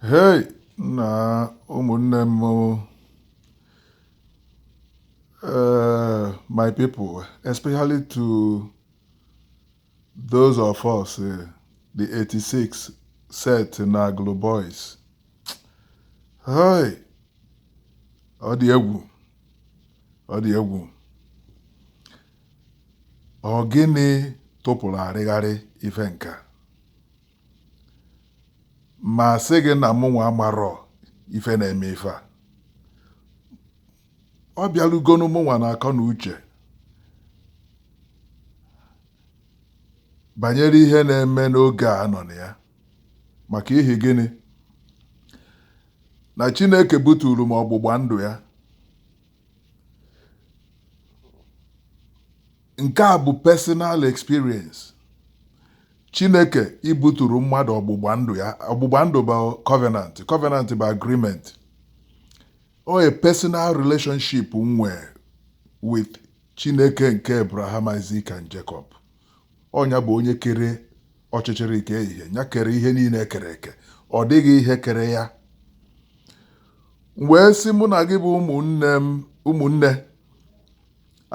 hei na ụmụnne m uh, my people especially to those of us uh, the 86 set na agụlụ boys hei ọ dị egwu ọ dị egwu Ọ gịnị tụpụrụ arịgharị ife nke a? Ma sị gị na mụnwa amarọ ife na-eme ife a. Ọ bịarugonu mụnwa n'akọ na uche banyere ihe na-eme n'oge a nọ na ya. Maka ihi gịnị? Na Chineke buturu m ọgbụgba ndụ ya nke a bụ personal experience chineke ibuturu mmadụ ọgbụgba ndụ ya ọgbụgba ndụ bụ covenant covenant bụ agreement ọ a personal relationship m nwee with chineke nke abraham isaac and jacob ọ nya bụ onye kere ọchịchịrị kee ìhè ya kere ihe niile ekere eke ọ dịghị ihe kere ya m wee sị mụ na gị bụ ụmụnne m ụmụnne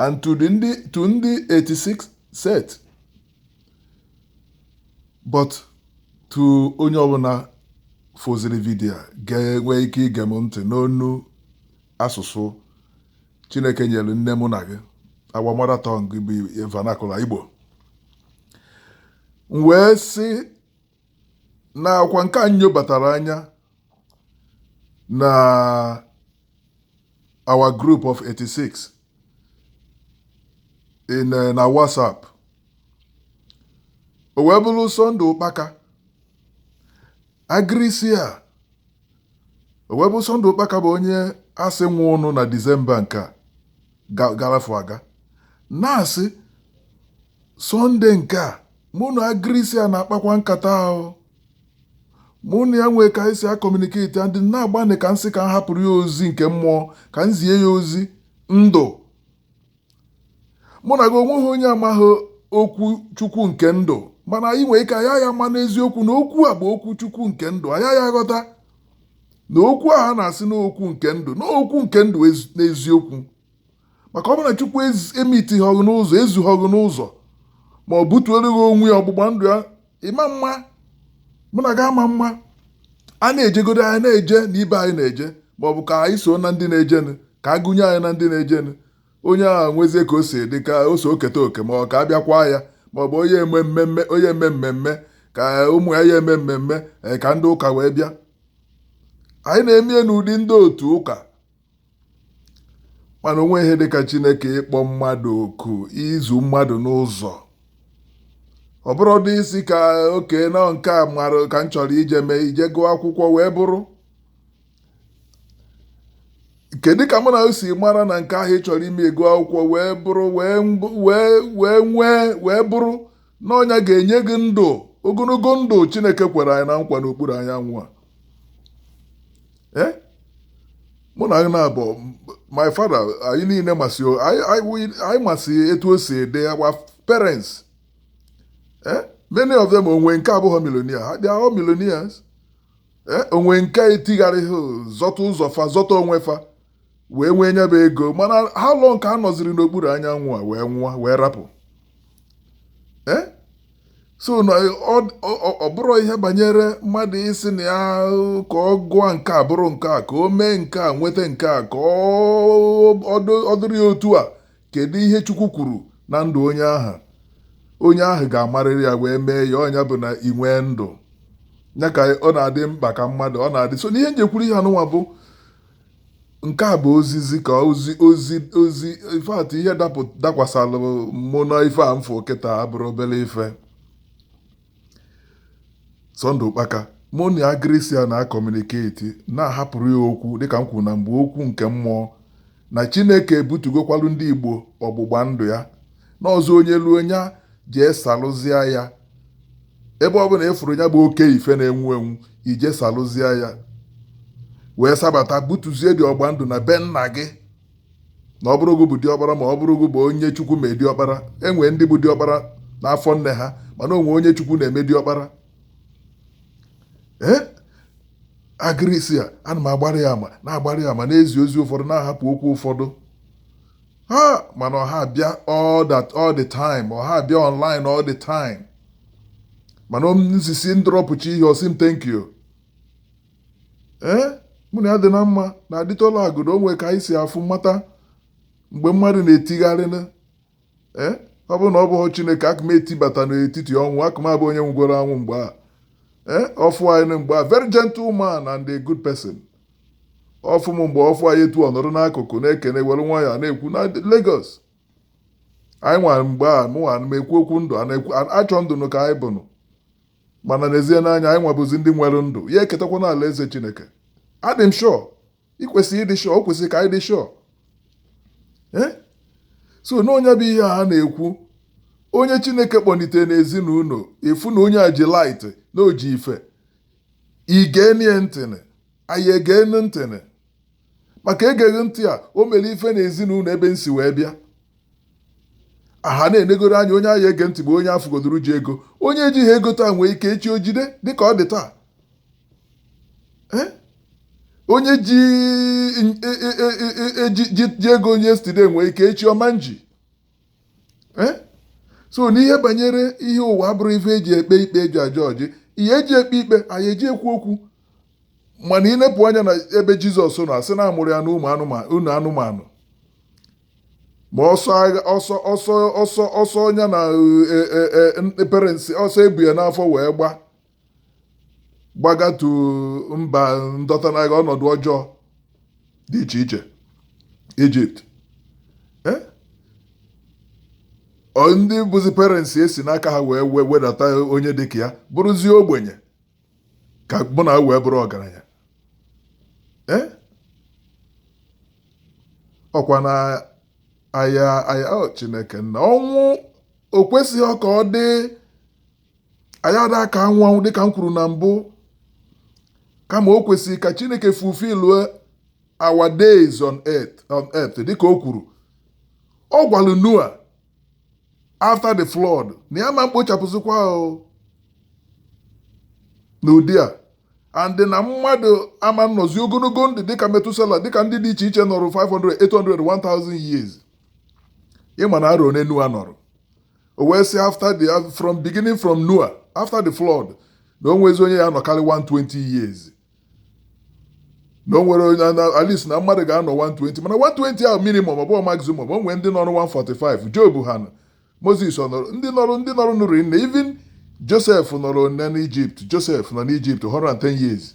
and to the ndị to ndị 86 set but to onye ọbụla fụziri vidio a ga-enwe ike ige m ntị n'onu asụsụ chineke nyere nne mụ na gị our mother tongue bụ vernacular igbo m wee sị na ọ kwa nke a nyobatara anya na our group of 86 in eh, na whatsapp o wee bụrụ Sunday Okpaka agirisi a o wee bụ Sunday Okpaka bụ onye a sị nwụụnụ na Disemba nke a ga- garafu aga na-asị Sunday nke a mụ na agirisi a na-akpakwa nkata ahụ mụ na ya nwee ka anyị si akọmuniketi ya m dị na-agbanị ka m sị ka m hapụrụ ya ozi nke mmụọ ka m zie ya ozi ndụ mụ na gị onweghị onye amaghị okwu chukwu nke ndụ mana anyị nwere ike ayaya ama n'eziokwu na okwu a bụ okwu chukwu nke ndụ ayaya aghọta na okwu a ha na-asị na ọ okwu nke ndụ na ọ okwu nke ndụ n'eziokwu maka ọ bụrụ na chukwu emitihọ gị n'ụzọ ezuhọ gị n'ụzọ ma butuere gị onwe ya ọgbụgba ndụ ya ịma mma mụ na gị ama mma a na-ejegodo anyị na-eje na ibe anyị na-eje ma ọ bụ ka anyị so na ndị na-ejenụ ka a gụnye anyị na ndị na-ejenụ onye ahụ nwezie ka o si dị ka o so eketa oke ma ọ ka a bịakwa ya ma ọ bụ onye eme mmemme onye eme mmemme ka ụmụ ya ya eme mmemme ee, ka ndị ụka wee bịa anyị na-eme ya n'ụdị ndị otu ụka mana o nwe ihe dịka chineke ịkpọ mmadụ oku ịzụ mmadụ n'ụzọ ọ bụrụ dị isi ka oke na nke a mara ka m chọrọ ije mee ije gụọ akwụkwọ wee bụrụ kedu ka mụ na si mara na nke ahụ ị chọrọ ime ịgụ akwụkwọ wee bụrụ wee wee nwee wee bụrụ na ọ nya ga-enye gị ndụ ogologo ndụ chineke kwere anyị na nkwa n'okpuru anyanwụ a eh? mụ na na abụ my father anyị niile masị anyị masị etu o si ede our parents eh? many of them o nwe nke abụghị millionaire ha dị ahụ millionaires eh? o nwe nke etigharịghị zọta ụzọ fa zọta onwe fa wee nwee nya bụ ego mana how long ka ha nọziri n'okpuru anyanwụ a wee nwụọ wee rapụ eh? so ọ bụrụ ihe banyere mmadụ ịsị na ya ka ọ gụọ nke a bụrụ nke a ka o mee nke a nweta nke a ka ọ dịrị ya otu a kedu ihe Chukwu kwuru na ndụ onye ahụ onye ahụ ga-amarịrị ya wee mee ya ọ nya bụ na ị nwee ndụ ya ka ọ na-adị mkpa ka mmadụ ọ na-adị so n'ihe m ji kwuru ihe anụnwa bụ nke a bụ ozizi ka ozi ozi ozi ife atụ ihe dakwasalụ mụ na ife a m fụ kịta abụrọ obere ife Sunday Ukpaka mụ na ya Grisia na-acommunicate na-ahapụrụ ya okwu dịka m kwuru na mgbe okwu nke mmụọ na Chineke ebutugokwalu ndị Igbo ọgbụgba ndụ ya n'ọzọ onye luo nya jee salụzịa ya ebe ọbụla ị fụrụ nya bụ oke ife na-enwu enwu ị jee salụzie ya wee sabata butuzie dị ọgba ndụ na be nna gị na ọ bụrụ gị bụ diọkpara ma ọ bụrụ gị bụ onye chukwu me diọkpara e nwee ndị bụ diọkpara n'afọ nne ha mana o nwe onye chukwu na-eme diọkpara ee agịrịsi a ana m agbara ya ama na-agbara ya ama na-ezi ozi ụfọdụ na-ahapụ okwu ụfọdụ ha mana ọ ha-abịa all that all the time ọ ha-abịa online all the time mana osisi m dropụchaa ihe ọ sị m thank you ee eh? mụ na ya dị na mma na adịtọla agụdo o nwe ka anyị si afụ mata mgbe mmadụ na-etigharị ee eh? ọ bụrụ na ọ bụghị chineke aka m etibata n'etiti ọnwụ aka m abụ onye nwụgoro anwụ mgbe a ee eh? ọfụ anyị mgbe a very gentle man and a good person ọfụ m mgbe ọfụ anyị etu ọnọdụ n'akụkụ na-ekene were nwa ya na-ekwu na Lagos anyị nwara mgbe a mụ nwa m ekwu okwu ndụ a na-ekwu a- achọ ndụ nụ ka anyị bụnụ mana n'ezie na anyị nwa bụzi ndị nwere ndụ ya eketakwa na alaeze Chineke adị m sure ị kwesịrị ịdị sure o kwesịrị ka anyị dị sure Eh? so na onye bụ ihe a na-ekwu onye chineke kpọlitere n'ezinụlọ a fụ na onye a ji light na o ji ife ị genie ntị anyị egenu ntị maka egeghị ntị a o mere ife na ezinụlọ ebe m si wee bịa a ha na-enegoro anya onye a ya-ege ntị bụ onye a fụgodoro ji ego onye ejighị ego taa nwee ike echi o jide dịka ọ dị taa onye ji e, e, e, ego yesterday nwee ike echi ọ ma nji Eh? so n'ihe banyere ihe ụwa abụrọ ife e ji ekpe ikpe e ji a-judge ihe e ji ekpe ikpe anyị eji ekwu okwu mana ị nepụ anya na ebe jizọs nọ a sị na a mụrụ ya na ụnọ anụmanụ ma ọsọ ọsọ ọsọ ọsọ ọsọ ya na e, e, e, parents ọsọ e bu ya n'afọ wee gba gbagatu mba ndọta n'agha ọnọdụ ọjọọ dị iche iche ijipt eh? ndị bụzi parents e si n'aka ha wee wedata onye dị ka ya bụrụzie ogbenye ka mụ na wee bụrụ ọgaranya eh? ọkwa na a ya-ayọ chineke na ọnwụ o kwesịghị ka ọ dị anyị ada aka anwụ anwụ dịka m kwuru na mbụ kama o kwesịrị ka chineke fulfill our days on earth dịka o kwuru ọ gwalụ noa after the flood na ya ama mkpochapụzikwa n'ụdị a and na mmadụ ama nnọzi ogologo ndụ dịka metusela dịka ndị dị iche iche nọrọ 500 800 1000 years ị ma na arọ one noa nọrọ o wee sị after the from beginning from Noah after the flood na o nwezi onye ya-anọkarị 120 years na o nwere onye at least na mmadụ ga-anọ 120 mana 120 ahụ minimum ọ bụghị maximum o nwee ndị nọrọ 145 Job ha nọ Moses ọ nọrọ ndị nọrọ ndị nọrọ nọ rinne even Joseph nọrọ nne n'Ijipt Joseph nọ n'Ijipt 110 years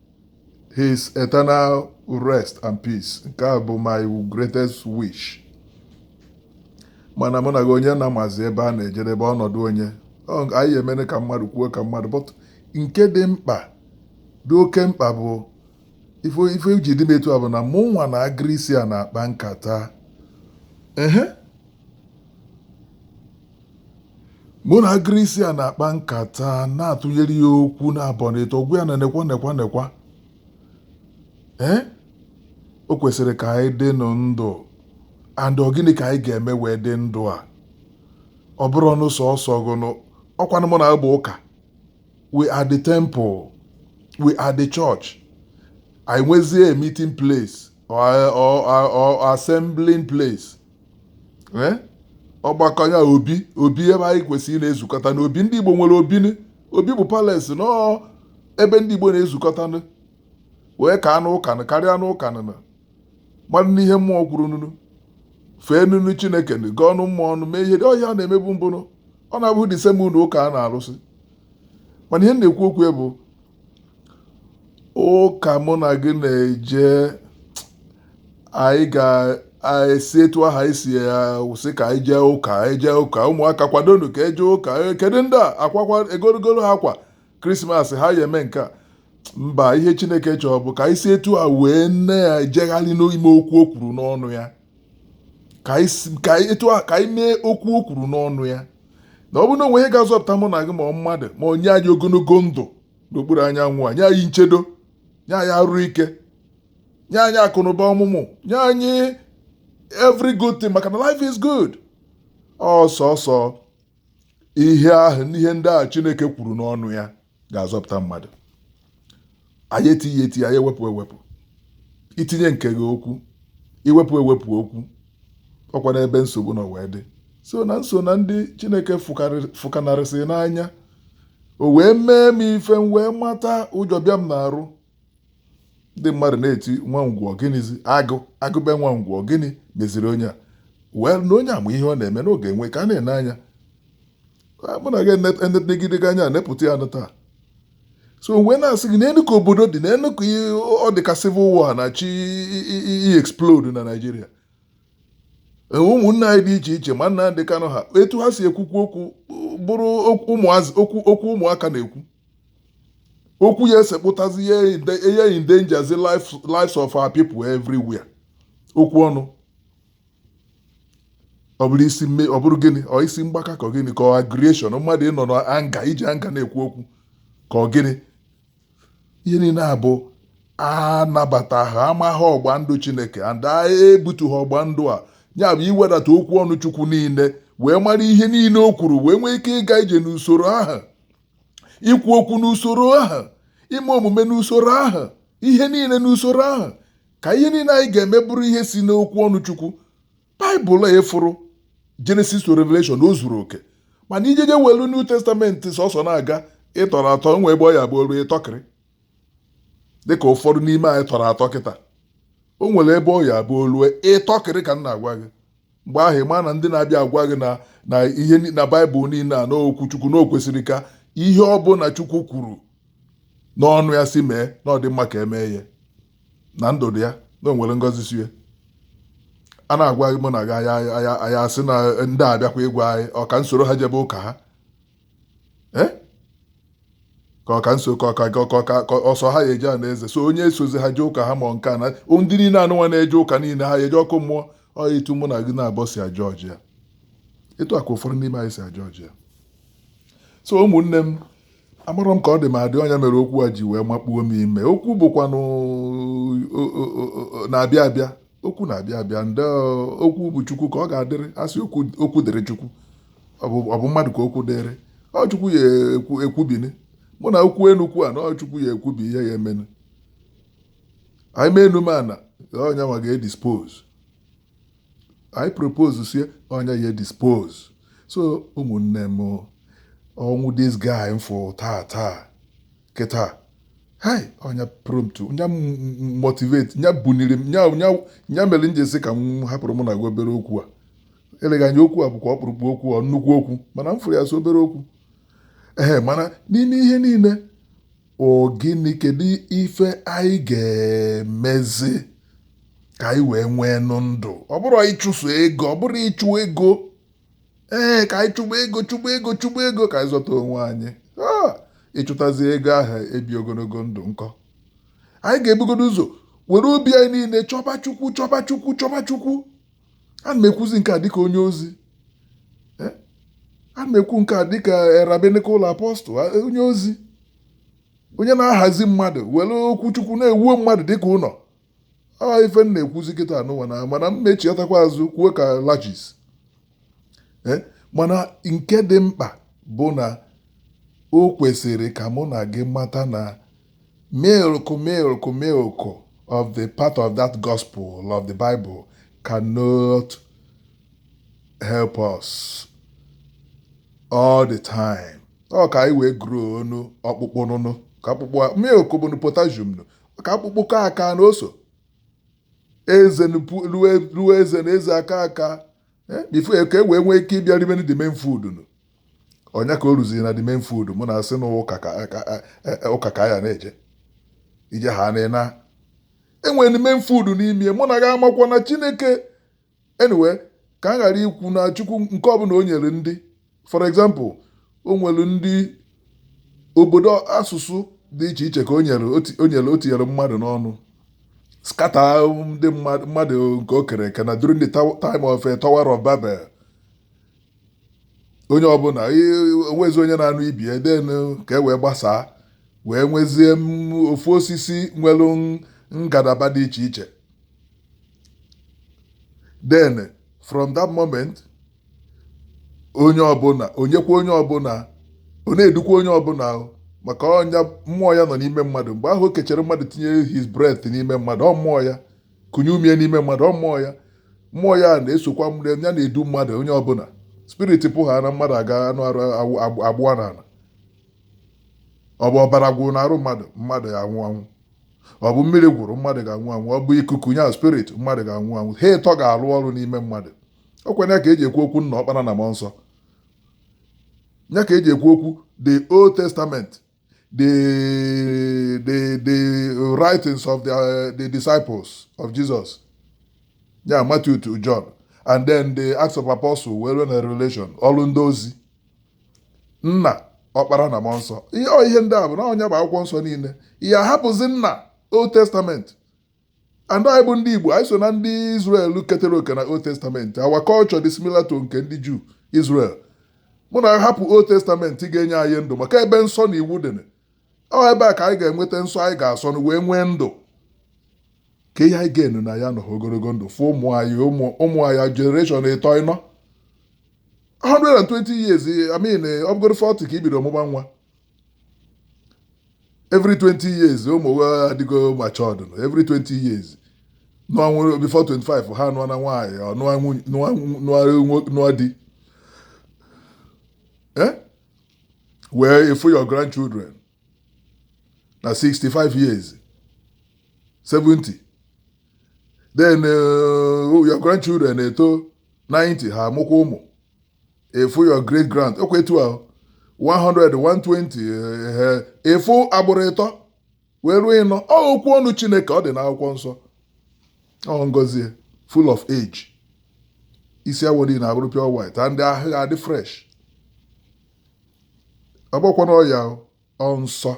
his eternal rest and peace nke a bụ my greatest wish mana mụ na gị onye na-amazi ebe a na-ejedebe ọnọdụ onye anyị emere ka mmadụ kwuo ka mmadụ but nke dị mkpa dị oke mkpa bụ ife ji dị m etu a bụ na mụ nwa na agrisia na-akpa nkata ehe mụ na Grisia na-akpa nkata na-atụnyere ya okwu naabọ na ịtọ gwa ya na nekwa nekwa nekwa ee o kwesịrị ka anyị dị nụ ndụ and ọ gịnị ka anyị ga-eme wee dị ndụ a ọ bụrụnụ sọsọ gụnụ ọkwanụ mụ na abụ ụka we are the temple we are the church anyị nwezie a meeting place or, or, or, or assembling place eh? ọgbakọ ya obi obi ebe anyị kwesịrị na-ezukọta na obi ndị Igbo nwere obi obi bụ palace na ebe ndị Igbo na-ezukọta wee kaanụ ụka karịanụ ụka na mmadụ nụ ihe mmụọ kwuru nunu fee nunu Chineke gọọnụ mmụọ nụ mee ihe ọha a na-emebu mbụnụ ọ na-abụ the same ụlọ ụka a na-arụsị mana ihe m na-ekwu okwu ya bụ ụka mụ na gị na-eje anyị ga-esi etu ahụ anyị si asị ka anyị jee ụka anyị jee ụka ụmụaka kwadonụ ka e jee ụka kedu ndị a akwakwa egoro goro ha akwa krismas ha ya eme nke a mba ihe chineke chọrọ bụ ka anyị si etu a wee na-ejegharị n'ime okwu o kwuru n'ọnụ ya ka anyị etu a ka anyị mee okwu o kwuru n'ọnụ ya na ọ bụrụ na o nwe ihe ga-azọpụta mụ na gị ma ọ mmadụ ma nye anyị ogologo ndụ n'okpuru anyanwụ a nye anyị nchedo nye anyị arụ ike nye anyị akụnụba ọmụmụ nye anyị every good thing maka na life is good ọ sọsọ ihe ahụ n'ihe ndị a Chineke kwuru n'ọnụ ya ga-azọpụta mmadụ anyị etinye etinye anyị ewepụ ewepụ i tinye nke gị okwu i wepụ ewepụ okwu ọ kwanụ ebe nsogbu nọ wee dị so na m so na ndị chineke fụkanarịsị n'anya o wee mee m ife m wee mata ụjọ bịa m n'arụ ndị mmadụ na-eti nwa ngwọ gịnịzi agụ agụbe nwa ngwọ gịnị meziri onye a wee na onye ama ihe ọ na-eme n'oge enwe ka a na-ene anya mụ na gị enegidega anya nepụta ya nụ taa so wee na-asị gị nenụ ka obodo dị nenụ ka ọ dị ka civil war na-achọ i explode na Naịjirịa e, ụmụnne anyị dị iche iche ma Nnamdi Kanu ha etu ha si ekwukwu okwu bụrụ okwu ụmụaka na-ekwu okwu ya esekpụtazi ihe endangerzi lives of our people everywhere okwu ọnụ ọ bụrụ isi mmebi ọ bụrụ gịnị ọ isi mgbaka ka ọ gịnị ka ọ aggression mmadụ ịnọ na nga iji nga na-ekwu okwu ka ọ gịnị ihe niile a bụ anabataha amaghị ọgba ndụ chineke and ebutuha ọgba ndụ a ya bụ iwedata okwu ọnụ chukwu niile wee mara ihe niile o kwuru wee nwee ike ịga ije n'usoro ahụ ikwu okwu n'usoro ahụ ime omume n'usoro ahụ ihe niile n'usoro ahụ ka ihe niile anyị ga-eme bụrụ ihe si n'okwu ọnụ chukwu baịbụl a ị fụrụ jenesis to revelation o zuru oke mana i jeje welu new testament sọsọ na-aga ị tọrọ atọ o nwe ebe ọ ya-abụ o lu ị tọkịrị dịka ụfọdụ n'ime anyị tọrọ atọ kịta o nwere ebe ọ ya-abụ o lue ị tọkịrị ka m na-agwa gị mgbe ahụ ị ma na ndị na-abịa agwa gị na na ihe ni- na baịbụl niile a n'okwu chukwu na o kwesịrị ka ihe ọ bụla chukwu kwuru n'ọnụ ya sị mee na ọ dị mma ka e mee ya na ndụ dị ya na o nwere ngọzi si ya a na-agwa gị mụ na gị anya anya anya asị na ndị a abịakwa ịgwa anyị ọ ka m soro ha jebe ụka ha Eh? ka ọ ka nso ka ọ ka ka ọ ka ka ọ sọ ha ya-eje ana eze so onye esozi ha jee ụka ha ma nke a na ndị niile anụnwa na-eje ụka niile ha ya-eje ọkụ mmụọ ọ etu mụ na gị naabọ si ajudge ya etu a ka ụfọdụ n'ime anyị si ajudge ya so ụmụnne m amarọ m ka ọ dị m adị ọ nya mere okwu a ji wee makpuo m ime okwu bụkwanụ o- o- o- o- na-abịa abịa okwu na-abịa abịa ndị okwu bụ chukwu ka ọ ga-adịrị a sị okwu okwu dịrị chukwu ọ bụ ọ bụ mmadụ ka okwu dịrị ọ chukwu ya-ekwu ekwubini mụ na okwu nnukwu a na ọ chukwu ya-ekwubi ihe ya-emenụ anyị mee enu ma ana ọ nya nwa ga-edispose anyị propose sie ọ nya ya-edispose so ụmụnne m ọnwụ this guy m fụ taa taa kịta hai ọ nya prompt nya motivate nya buniri m nya nya nya mere m ji sị ka m hapụrụ mụ na gị obere okwu a eleghị anya okwu a bụkwa ọkpụrụkpụ okwu ọ nnukwu okwu mana m fụrụ ya sọ obere okwu ee mana n'ime ihe niile ọ gịnị kedu ife anyị ga-emezi ka anyị wee nwee nụ ndụ ọ bụrụ ịchụso ego ọ bụrụ ịchụ ego ee ka anyị chụba ego chụba ego chụba ego ka anyị zọta onwe anyị Ah, ị chụtazi ego ahụ ebi ogologo ndụ nkọ anyị ga-ebugodu ụzọ were obi anyị niile chọba chukwu chọba chukwu chọba chukwu ana m ekwuzi nke a dịka onye ozi Eh, ana m ekwu nke a dịka a rabbinical apọstụl a- onye ozi onye na-ahazi mmadụ were okwu chukwu na-ewuo mmadụ dịka ụlọ a ife m na-ekwuzi kịta anụnwa na mana m echiatakwa azụ kwuo ka lajis eh, mana nke dị mkpa bụ na o kwesịrị ka mụ na gị mata na milk milk milk of the part of that gospel of the Bible cannot help us all the time ọ ka anyị wee grow ọnụ ọkpụkpụ nụnụ ka akpụkpọ milk bụ potassium nụ maka akpụkpọ ka aka na oso eze nupu- ruo ruo eze na eze aka aka eh, before ka e wee nwee ike ịbịa ribe the main food nụ ọ nya ka o ruziri na the main food mụ na asị na ụka ka ka- eh, eh, ụka ka ya na-eje ije ha na ịna enwere the main food n'ime mụ na gị amakwa na chineke anyway ka m ghara ikwu na chukwu nke ọbụla o nyere ndị for example o nwere ndị obodo asụsụ dị iche iche ka o nyere o nyere o tinyere mmadụ n'ọnụ scatter ndị mmadụ nke o kere eke na during the time of eh, Tower of Babel onye ọbụla o nwezi onye na-anụ ibe ya then ka e wee gbasaa wee nwezie ofu osisi nwere ngalaba dị iche iche then from that moment onye ọbụla o nyekwa onye ọbụla ọ na-edukwa onye ọbụla ahụ maka ọ ya mmụọ ya nọ n'ime mmadụ mgbe ahụ o kechere mmadụ tinye his breath n'ime mmadụ ọ mmụọ ya kunye ume ya n'ime mmadụ ọ mmụọ ya mmụọ ya na-esokwa ya na-edu mmadụ onye ọbụla spirit pụ ha na mmadụ aga anụ arụ awụ- agbụ- agbụwa n'ala ọ bụ ọbara gwụrụ n'arụ mmadụ mmadụ ya anwụ anwụ ọ bụ mmiri gwụrụ mmadụ ga-anwụ anwụ ọ bụ ikuku ya spirit mmadụ ga-anwụ anwụ ha ịtọ ga-arụ ọrụ n'ime mmadụ ọ kwa ya ka e ji ekwu okwu nna ọkpara na mmụọ nsọ ya ka e ji ekwu okwu the old testament the, the, the writings of the, uh, the disciples of Jesus. Yeah, Matthew to John. And then the Acts of Apostles wee ruo na Revelation. Ọrụ ndị ozi. Nna, ọkpara na mmụọ nsọ. Ihe ihe ndị a bụ na ọ nya bụ akwụkwọ nsọ niile. Ya hapụzi nna Old Testament. And anyị bụ ndị Igbo, anyị so na ndị Israel ketere oke na Old Testament. Our culture dị similar to nke ndị Jew, Israel. Mana a hapụ Old Testament ga-enye anyị ndụ maka ebe nsọ na iwu dị. Ọ ebe a ka anyị ga-enweta nsọ anyị ga-asọ na wee nwee ndụ. Ka ihe anyị ga-enu na ya nọ ogologo ndụ fụ ụmụ anyị ụmụ anyị generation ịtọ ịnọ 120 years I mean ọ bụgoro 40 ka i bido mụba nwa every 20 years ụmụ adịgo matured nụ every 20 years nụọ nwunye before 25 ha nụọ na nwaanyị ọ nụọ nwunye- nụọ nụọ nwo- nụọ di Eh? wee fụ your grandchildren na 65 years 70 then uh, your grandchildren eto 90 ha amụkwa ụmụ ị fụ your great grand ọ kwa etu ahụ 100 120 ehe ị fụ agbụrụ ịtọ wee ruo ịnọ ọ okwu ọnụ chineke ọ dị n'akwụkwọ nsọ ọ ngozi ya, full of age isi awọ gị na-abụrụ pure white and ahụ ga-adị fresh ọ bụkwanụ ọya o Ọ nsọ,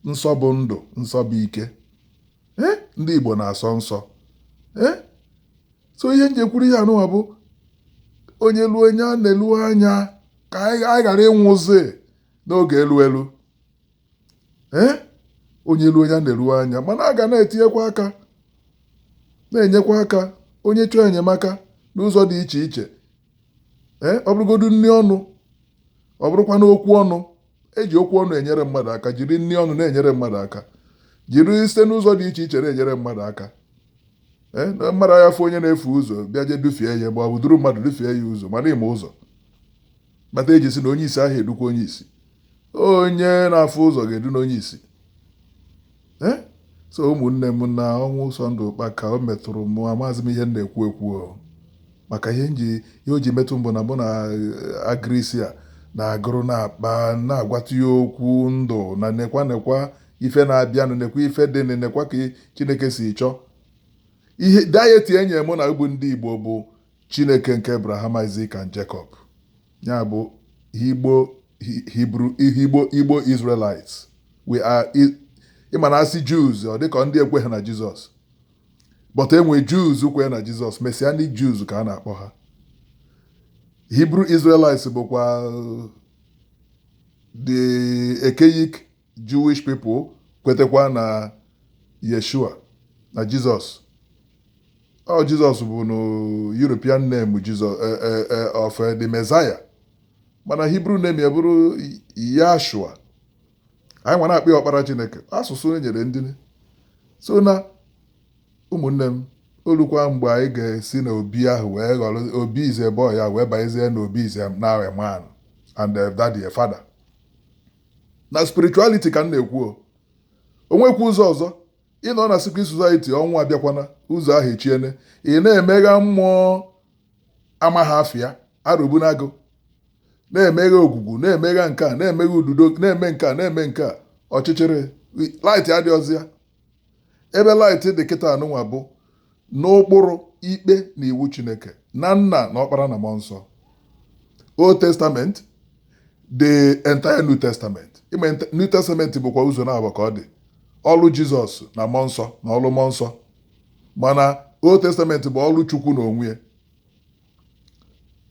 nsọ bụ ndụ, nsọ bụ ike. Eh? Ndị Igbo na-asọ nsọ. Eh? So ihe m ji ekwuru ihe anụwa bụ onye luo onye a na-elu anya ka anyị ghara ịnwụzi n'oge elu elu. Eh? Onye luo onye a na-elu anya mana a ga na-etinyekwa aka na-enyekwa aka onye chọọ enyemaka n'ụzọ dị iche iche ee ọ bụrụgodu nri ọnụ ọ bụrụkwa n'okwu ọnụ eji okwu ọnụ enyere mmadụ aka jiri nri ọnụ na-enyere mmadụ aka jiri site n'ụzọ dị iche iche na-enyere mmadụ aka ee na mmadụ aya afụ onye na-efu ụzọ bịa je dufie ya ma ọ bụ duru mmadụ dufie ya ụzọ mana ịma ụzọ kpata eji sị na onye isi aha edukwa onye isi onye na-afụ ụzọ ga-edunu onye isi Eh? so ụmụnne m na ọnwụ Ụsọndụ Ụkpaka o metụrụ mụ amazi m ihe m na-ekwu ekwu maka ihe nji ihe o ji metụ m bụ na mụ na eh, agrisia na-agụrụ na-akpa na-agwatụ ya okwu ndụ na nekwa nekwa ife na-abịanụ nekwa ife dịnụ nekwa ka chineke si chọọ ihe deity enye mụ na unu bụ ndị igbo bụ Chineke nke Abraham, Isaac and Jacob, ya bụ Igbo Hebrew Igbo Igbo Israelites we are ị ma na a sị Jews ọ dịka ndị ekweghị na Jizọs but enwe Jews kwenye na Jizọs Messianic Jews ka a na-akpọ ha Hebrew Israelites bụkwa the archaic Jewish people kwetakwa na Yeshua na Jizọs ọ Jizọs bụnụ European name Jizọs eh, eh, eh, of eh, the Messiah mana Hebrew name ya bụrụ Yashua anyị nwa na-akpọ ya ọkpara Chineke asụsụ e nyere ndị so na ụmụnne m olukwa mgbe anyị ga-esi na obi ahụ wee ghọrọ obi is a boy a wee banyezie na obi is now a man and eh, daddy a father na spirituality ka m na-ekwu o o nwekwa ụzọ ọzọ ị nọ na secret society ọnwụ abịakwa n'ụzọ ahụ echiene ị na-emegha mmụọ amaghị afịa Arọbịnagụ na-emegha Ogwugwu na-emegha nke a na-emegha Ududo na-eme nke a na-eme nke a ọchịchịrị light adịrọzi ya ebe light dị kịta anụnwa bụ n'ụkpụrụ ikpe na iwu chineke na nna na ọkpara na mmụọ nsọ old testament the entire new testament ime new testament bụkwa ụzọ naabọ ka ọ dị ọlụ jizọs na mmụọ nsọ na ọlụ mmụọ nsọ mana old testament bụ ọlụ chukwu n'onwe ya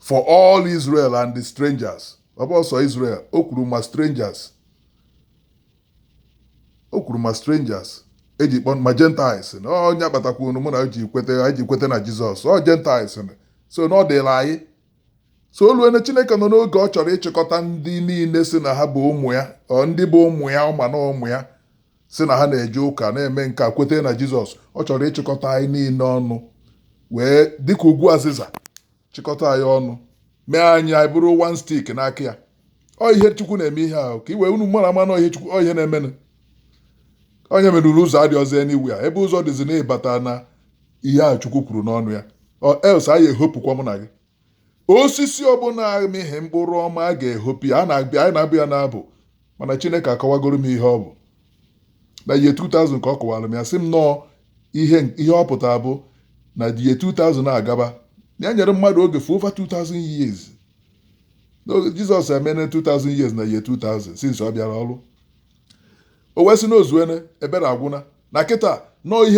for all israel and the strangers ọ bụrọ sọ israel o kwuru ma strangers o kwuru ma strangers eji kpọ ma gentiles na onye kpatakwanụ mụ na gị kweta anyị ji kweta na jizọs ọ gentiles so na ọ dịla anyị so o luene chineke nọ n'oge ọ chọrọ ịchịkọta ndị niile si na ha bụ ụmụ ya ọ ndị bụ ụmụ ya ọ ma na ụmụ ya si na ha na-eje ụka na-eme nka kweta na jizọs ọ chọrọ ịchịkọta anyị niile ọnụ wee dịka ukwu azịza chịkọta anyị ọnụ mee anyị anyị bụrụ one stick n'aka ya ọ ihe chukwu na-eme ihe ahụ ka iwe unu mara ama na ihe chukwu ọ ihe na-emenụ onye merụrụ ụzọ adị ọzọ enigwe ya ebe ụzọ dịzi na ịbata na ihe ahụ chukwu kwuru n'ọnụ ya or else a ya-ehopụkwa mụ na gị osisi ọbụla amịghị mkpụrụ ọma a ga-ehopụ ya na-abịa anyị na-abịa ya na-abụ mana chineke akọwagoro m ihe ọ bụ na year 2000 ka ọ kọwara m ya sị m na ọ ihe ihe ọ pụtara bụ na year 2000 agaba na ya nyere mmadụ oge for over 2000 years na jizọs emene 2000 years na year 2000 since ọ bịara ọrụ o wee sị na o zuene ebere agwụna na kịta na ọ ihe